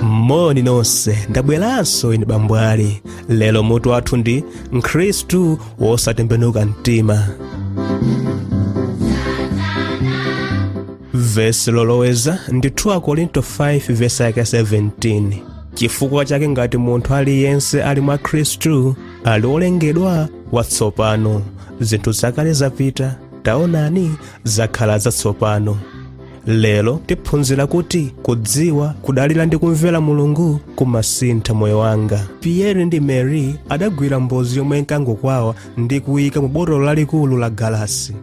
moni nonse ndabweranso ine bambwali lero mutu wathu ndi mkhristu wosatembenuka mtima vesi loloweza ndi 2 akorinto 5 vesi yake 17 chifukwa chake ngati munthu aliyense ali mwa khristu ali olengedwa watsopano zinthu zakale zapita taonani zakhala zatsopano lero tiphunzira kuti kudziwa kudalira ndi kumvera mulungu kumasintha moyo wanga pierre ndi mary adagwira mbozi yomwe inkangokwawa ndi kuyika mu botolo lalikulu la galasi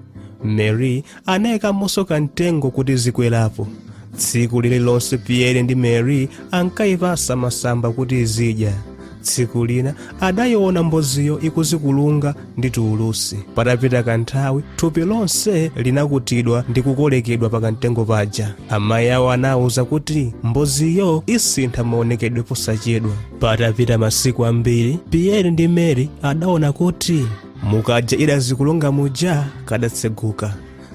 mary Anaikamonso kamtengo kuti zikwerapo. Tsiku lililonse Pierre ndi Mary ankaipatsa masamba kuti izidya. Tsiku lina adaiona mboziyo ikuzikulunga ndi tuulusi. Patapita kanthawi, thupi lonse linakutidwa ndi kukolekedwa pa kamtengo paja. Amayi awo anawauza kuti mboziyo isintha maonekedwe posachedwa. Patapita masiku ambiri, Pierre ndi Mary adaona kuti mukaja idazikulunga muja kadatseguka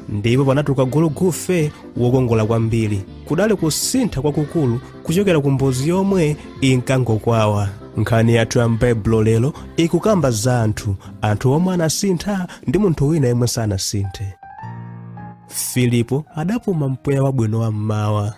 ndipo panatuluka gulugufe wokongola kwambiri kudali kusintha kwakukulu kuchokera ku mbozi yomwe inkangokwawa nkhani yathu ya m'baibulo lero ikukamba za anthu anthu omwe anasintha ndi munthu wina yemwe sanasinthe filipo adapuma mpweya wabwino wa mmawa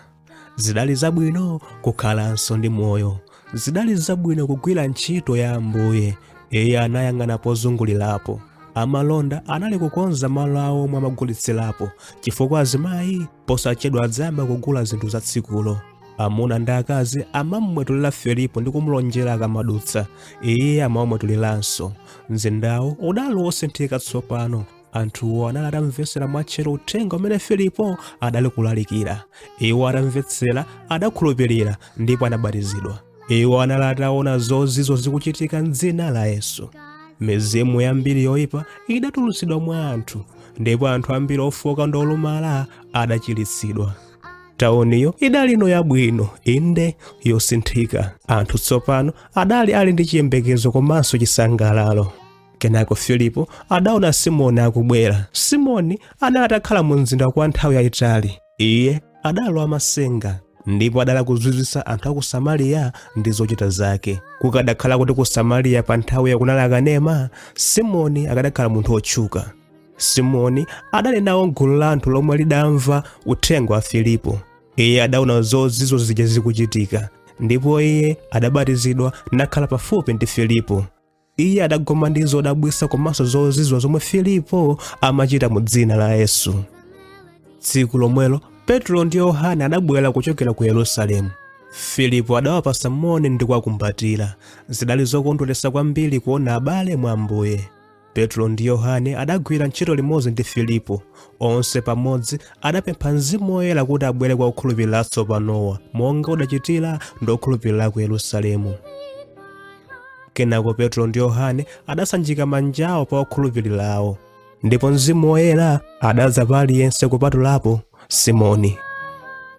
zidali zabwino kukhalanso ndi moyo zidali zabwino kugwira ntchito ya ambuye iye anayang'ana pozungulirapo amalonda anali kukonza malo awo omwe amagulitsirapo chifukwa azimayi posachedwa adzayamba kugula zinthu za tsikulo amuna ndi akazi amamwetulira filipo ndi kumulonjera akamadutsa iye amawamwetuliranso mzindawo udali wosinthika tsopano anthuwo anali atamvetsera mwatcheru uthenga umene filipo adali kulalikira iwo atamvetsera adakhulupirira ndipo anabatizidwa iwo anali ataona zozizwa zikuchitika m'dzina la yesu mizimu yambiri yoyipa idatulutsidwa mwa anthu ndipo anthu ambiri ofoka ndi olumala adachiritsidwa tauniyo idalino yabwino inde yosinthika anthu tsopano adali ali ndi chiyembekezo komanso chisangalalo kenako filipo adaona simoni akubwera simoni anali atakhala mu mzinda kwa nthawi yayitali iye adalowa masenga ndipo adali kuzizwisa anthu a ku samariya ndi zochita zake kukadakhala kuti ku samariya pa nthawiyo kunali akanema simoni akadakhala munthu wotchuka simoni adali nawo m'gulu la anthu lomwe lidamva uthenga wa filipo iye adaona zozizwa zija zikuchitika ndipo iye adabatizidwa nakhala pafupi ndi filipo iye adagoma ndi zodabwisa komanso zozizwa zomwe filipo amachita mu dzina la yesu tsiku lomwelo petro ndi yohane adabwera kuchokera ku yerusalemu filipo adawapasa moni ndi kuwakumbatira zidali zokondweretsa kwambiri kuona abale mwa ambuye petro ndi yohane adagwira ntchito limodzi ndi filipo onse pamodzi adapempha mzimu woyera kuti abwere kwa okhulupirira atsopanowa monga udachitira ndi okhulupirira ku yerusalemu kenako petro ndi yohane adasanjika manja awo pa okhulupirirawo ndipo mzimu woyera adadza pa aliyense kupatulapo simoni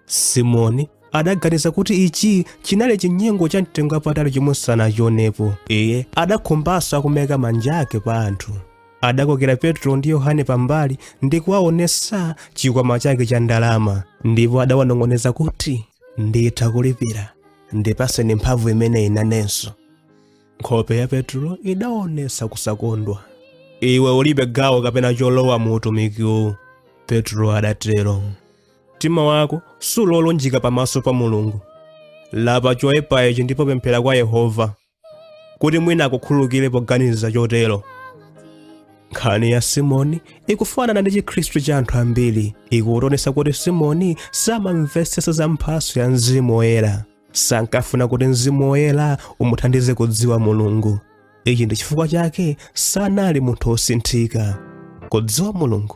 simoni adaganiza kuti ichi chinali chinyengo cha mtengo wapatali chomwe sanachionepo iye adakhumbanso kumaika manja ake pa anthu adakokera petro ndi yohane pambali ndi kuwaonesa chikwama chake cha ndalama ndipo adawanong'oneza kuti nditha kulipira ndipaseni mphamvu imeneyi inenso nkhope ya petulo idaonesa kusakondwa iwe ulibe gawo kapena cholowa mu utumikiwu petulo adatero mtima wako suli olunjika pamaso pa mulungu lapa choyipa ichi ndipo pemphera kwa yehova kuti mwina akukhululukire poganiza chotero nkhani ya simoni ikufanana ndi chikhristu cha anthu ambiri ikutionetsa kuti simoni samamvetsetsa za mphatso ya mzimu woyera sankafuna kuti mzimu woyera umuthandize kudziwa mulungu ichi ndi chifukwa chake sanali munthu wosinthika kudziwa mulungu